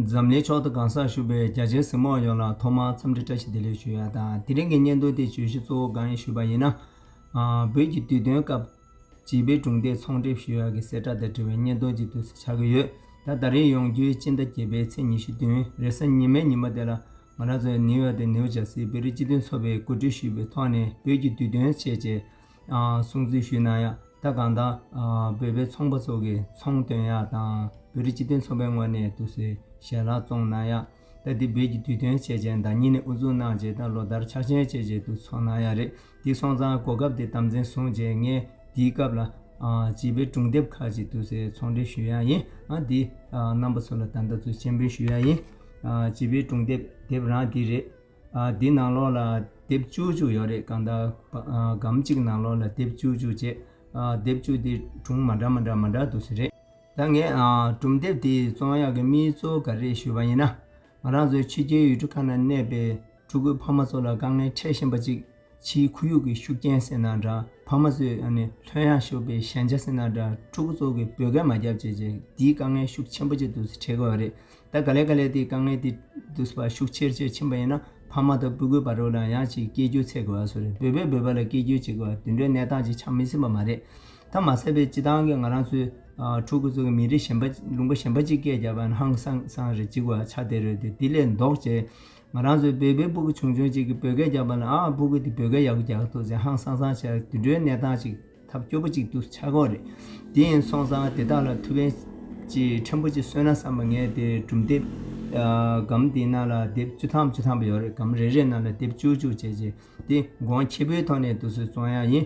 འཛམ་གླིང་ཕྱོགས་དང་གང་སར་བཞུགས་པའི་རྒྱ་ཆེའི་གཟིགས་མོ་ཡོངས་ལ་ཐོག་མར་འཚམས་འདྲི་བཀྲ་ཤིས་བདེ་ལེགས་ཞུ་ཡ་དང་དེ་རིང་གི་སྙན་ཐུང་དེའི་བརྗོད་གཞི་གཙོ་བོ་གང་ཡིན་ཞུས་པ་ཡིན་ན། བོད་ཀྱི་དུས་སྟོན་སྐབས་བྱིས་པའི་གྲུང་སྡེ་ཚོང་འགྲེམས་ཞུ་ཡ་གི་གསལ་བསྒྲགས་དང་འབྲེལ་བའི་སྙན་ཐུང་ཅིག་དུས་སུ་ཆགས་ཀྱི་ཡོད་ད་ད་རེས་ཡོང་རྒྱུའི་སྤྱི་ཟླ་བརྒྱད་པའི་ཚེས་ཉི་ཤུ་བདུན་རེས་གཟའ་ཉི་མའི་ཉིན་མོ་དེ་ལ་ང་རང་ཚོས་ནིའུ་ཡོག་ཏུ་ནིའུ་ཇར་སིའི་བོད་རིགས་སྤྱི་མཐུན་ཚོགས་པའི་གོ་སྒྲིག་ཞུས་པའི་ཐོག་ནས་བོད་ཀྱི་དུས་སྟོན་ཆེད་ཆེད་སྲུང་བརྩི་ཞུས་གནང་ཡང་ད་གང་དང། བོད་པའི་ཚོང་པ་ཚོ་གིས་ཚོང་དོན་ཡག་དང་བོད་རིགས་སྤྱི་མཐུན་ཚོགས་པའི་ངོས་ནས་དུ་སེ་ཞལ་ལག་བཙོང་གནང་ཡང་ད་འདི་བོད་ཀྱི་དུས་སྟོན་བྱས་རྗེས་ཟླ་གཉིས་ནས་དབུ་འཛུགས་གནང་རྗེས་ད་ལོ་ཟླར་ཕྱག་ཆེན་བྱས་རྗེས་དུ་འཚོགས་གནང་ཡ་རེད་འདི་སོང་ཙང་གོ་སྐབས་དེ་དམ་འཛིན་བཟུང་རྗེས་ངས་འདིའི་སྐབས་ལ། བྱིས་པའི་སྒྲུང་དེབ་ཁག་ཅིག་དུ་སེ་ཚོང་འབྲེལ་ཞུ་ཡ་ཡིན་ཨང་འདི་རྣམ་པ་ཚོ་ལ་ད་ལྟ་ཚུལ་མཆན་འབུལ་ཞུ་ཡ་ཡིན། བྱིས་པའི་སྒྲུང་དེབ་དེབ་རང་འདི་རེད། འདི་ནང་ལོགས་ལ་དེབ་བཅུ་བཅུ་ཡོད་རེད་གང་ལྟར་སྒམ་གཅིག་ནང་ལོགས་ལ་དེབ་བཅུ་བཅུ་བཅས་དེབ་བཅུ་དེ་གྲུང་མ་འདྲ་མ་འདྲ་མ་འདྲ་འདུག་ཟེར་རེད་ད་ངས་གྲུང་དེབ་དེའི་རྩོམ་ཡག་གི་མིའི་གཙོ་ག་རེད་ཞུས་པ་ཡིན་ན། ང་རང་ཚོའི་ཕྱི་རྒྱལ་ཡུལ་གྲུ་ཁག་ན་གནས་པའི་ཕྲུ་གུའི་ཕ་མ་ཚོ་ལ་དཀའ་ངལ་འཕྲད་བཞིན་པ་ཅིག་ཕྱིའི་ཁོར་ཡུག་གི་ཤུགས་རྐྱེན་སེལ་ན་འདྲ་ཕ་མ་ཚོས་ཡང་ནས་ལྷོད་ཡངས་ཤོག་པའི་ཞན་ཆ་སེལ་ན་འདྲ་ཕྲུ་གུ་ཚོ་གི་བོད་སྐད་མ་བརྒྱབ་ཅེས་བྱས་འདིའི་དཀའ་ངལ་ཤུགས་ཆེན་པོ་ཆེ་དུས་ཚོད་འཕྲལ་གི་བ་རེད་ད་ག་ལེ་ག་ལེ་དེའི་དཀའ་ངལ་དེ་དུས་བ་ཤུགས་ཆེར་ཆེར་ཕྱིན་པ་ཡིན་ན་ཕ་མ་དང་སྤུ་གུའི་བར་རོ་ལངས་ཡང་ཅིག་སྐད་སྒྱུར་ཚད་གི་བ་སུ་རེད་བོད་པས་བོད་པ་ལ་སྐད་སྒྱུར་བྱེད་གི་བ་དུད་འགྲོའི་གནས་སྟངས་ཅིག་ཆགས་མི་སྲིད་པ་མ་རེད་ད་མ་ཟད་པའི་སྤྱི་བཏང་གི་ང་རང་ཚོའི་ཕྲུ་གུ་ཚོ་གི་མི་རིགས་གཞན་པ་ལུང་པ་གཞན་པ་ཅིག་སྐད་བརྒྱབ་པ་ན་ཧང་སང་སང་རེད་ཅིག་བ་ཆགས་བསྡད་རོལ་དུས་དེ་ལས་ལྡོག་ཅེས། ང་རང་ཚོའི་བོད་པའི་སྤུ་གུ་ཆུང་ཆུང་གཅིག་གིས་བོད་སྐད་རྒྱག་པ་ལ་ཨ་ཨ་སྤུ་གུ་འདི་བོད་སྐད་ཡག་པོ་རྒྱག་ཐུབ་ཟེར་ཧང་སང་སང་བྱས་དུད་འགྲོའི་གནས་སྟངས་ཅིག་ཐབས་སྐྱོ་པོ་ཅིག་འདུག་ཆག་སྒོ་རེད་དེ་ཡིན་སོང་ཙང་དེ་དག་ལ་ཐུ་བེན་གྱིས་ཕྲན་བུ་ཅིག་གསོན་ན་བསམ་པ་ངས་དེ་གྲུབ་འདེབས་སྒམ་དེའི་ནང་ལ་དེབ་བཅུ་ཐམ་བཅུ་ཐམ་པ་ཡོད་རེད་སྒམ་རེ་རེའི་ནང་ལ་དེབ་བཅུ་བཅུ་བྱས་རྗེས་དེ་སྒོང་ཁྱི་པོའི་ཐོག་ནས་དུ་སུས་བཙོང་ཡག་ཡིན་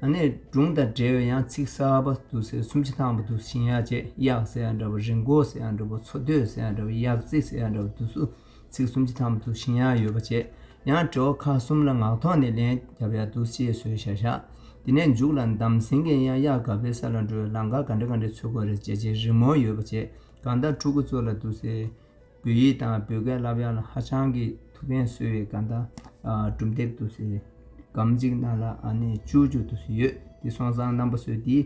ཨ་ནེ་སྒྲུང་དང་འབྲེལ་བའི་ཡང་ཚིག་གསར་པ་དུ་ཟེར་སུམ་ཅུ་ཐང་པ་དུ་ཞིང་ཡག་བཅས་གཡག་ཟེར་ཡང་འདྲ་བོ་རི་མགོ་ཟེར་ཡང་འདྲ་བོ་འཚོ་སྡོད་ཟེར་ཡང་འདྲ་བོ་གཡག་རྩེ་ཟེར་ཡང་འདྲ་བོ་དུ་སུ་ཚིག་སུམ་ཅུ་ཐང་པ་དུ་ཞིང་ཡག་ཡོད་པ་བཅས་ཡང་དྲི་བ་ཁ་གསུམ་ལ་ངག་ཐོག་ནས་ལན་བརྒྱབ་ཡག་འདུག་ཅེས་བཟོས་བཞག་བཞག་དེ་ནས་མཇུག་ལ་འདམ་ཟིང་གིས་ཡང་གཡག་ག་པའི་ས་ལ་འགྲོ་བའི་ལམ་ཁ་ག་འདྲ་ག་འདྲའི་འཚོལ་དགོས་རེད་ཅེས་ཅེས་རི་མོ་ཡོད་པ་བཅས་གང་ལྟར་ཕྲུ་གུ་ཚོ་ལ་དུ་ཟེར། བོད་ཡིག་དང་བོད་སྐད་བསླབ་ཡག་ལ་ཧ་ཅང་གི་ཐུགས་ཕན་གསོས་བའི་སྐད་བརྡ་གྲུབ་འདེབས་དུ་ཟེར། སྒམ་གཅིག་ནང་ལ་ཨ་ནེ་བཅུ་བཅུ་དུ་ཟེར་ཡོད་དེ་སོང་ཙང་རྣམ་པ་སོས་དེ་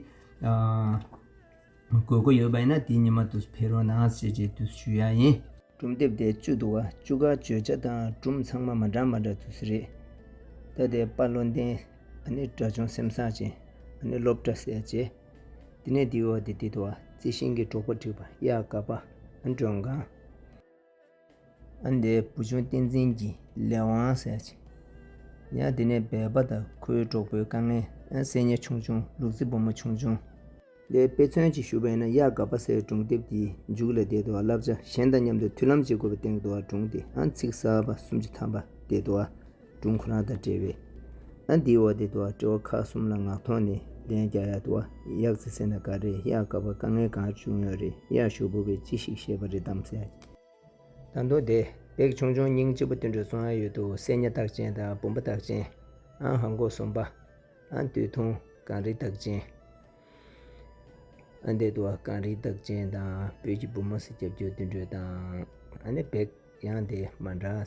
དགོས་མཁོ་ཡོད་པ་ཡིན་ན་དེ་ཉི་མ་དུ་ཕེ་རོ་ནང་བྱེད་ཅེས་དུ་ཞུ་ཡག་ཡིན། གྲུབ་འདེབས་དེ་བཅུ་དུ་བ་བཅུ་ག་བརྗོད་བྱ་དང་སྒྲུབ་ཚང་མ་མ་འདྲ་མ་འདྲ་དུ་ཟེར། རེད་ད་དེ་དཔའ་བློ་ལྡན་ཨ་ནེ་དགྲ་བྱུང་སེམས་བཟང་ཅན་ཨ་ནེ་སློབ་གྲྭ་ཟས་བྱེད། དེ་ནས་དེའི་འོག་ཏུ་དེ་དུ་བ་རྩི་ཤིང་གི་གྲོག་པོ་བྲིས་པ་གཡག་དཀར་པདྨ་སྒྲོན་གང། ཨ་འདི་བུ་ཆུང་བསྟན་འཛིན་གྱི་ལས་དབང་ཟེར་གྱི། ཡང་དེ་ནས་སྦལ་པ་དང་ཁོའི་གྲོགས་པོའི་དཀའ་ངལ་ཨན་སེ་ཉལ་ཆུང་ཆུང་ལུག་རྫི་བུ་མོ་ཆུང་ཆུང། ལས་དཔེ་མཚོན་གྱིས་ཞུ་བ་ཡིན་ན་གཡག་དཀར་པ་སེར་སྒྲུང་དེབ་དེའི་མཇུག་ལ་དེ་དུ་བ་བསླབ་བྱ་གཞན་དང་མཉམ་དུ་མཐུན་ལམ་བྱེད་དགོས་པའི་སྟེང་དུ་བ་སྒྲུང་དེ་ཨན་ཚིག་གསར་པ་གསུམ་གྱི་ཐམ་པ་དེ་དུ་བ་སྒྲུང་ཁོ་རང་དང་འབྲེལ་བའི་ཨ་འདི་ཨོ་དེ་དུ་བ་དྲི་བ་ཁག་གསུམ་ལ་ངག་ཐོག་ནས་ལན་རྒྱག་ཡག་དུ་བ་ཡག་རྩི་ཟེར་ན་ག་རེ་ཡག་དགའ་བ་དཀའ་ངལ་གང་བྱུང་ཡོད་རེད་ཡག་ཞུ་བོ་བས་ཅི་ཞིག་བཤད་པ་རེད་དམ་ཟེར། ད་དུང་དེ་བེག་ཆུང་ཆུང་སྙིང་ལྕི་པོ་དུད་འགྲོ་ཚོ་ཨང་ཡོད་དུ་སེ་ཉ་རྟགས་ཅན་དང་བུམ་པ་རྟགས་ཅན་ཨང་ཧ་མགོ་གསུམ་པ་ཨང་དུད་ཐུང་གངས་རི་རྟགས་ཅན་ཨང་དེ་དུ་བ་གངས་རི་རྟགས་ཅན་དང་བོད་ཀྱི་བུ་མོ་སེ་རྒྱབ་སྐྱོར་དུད་འགྲོ་དང་ཨང་ནི་བེག་ཡང་དེ་མ་འདྲ།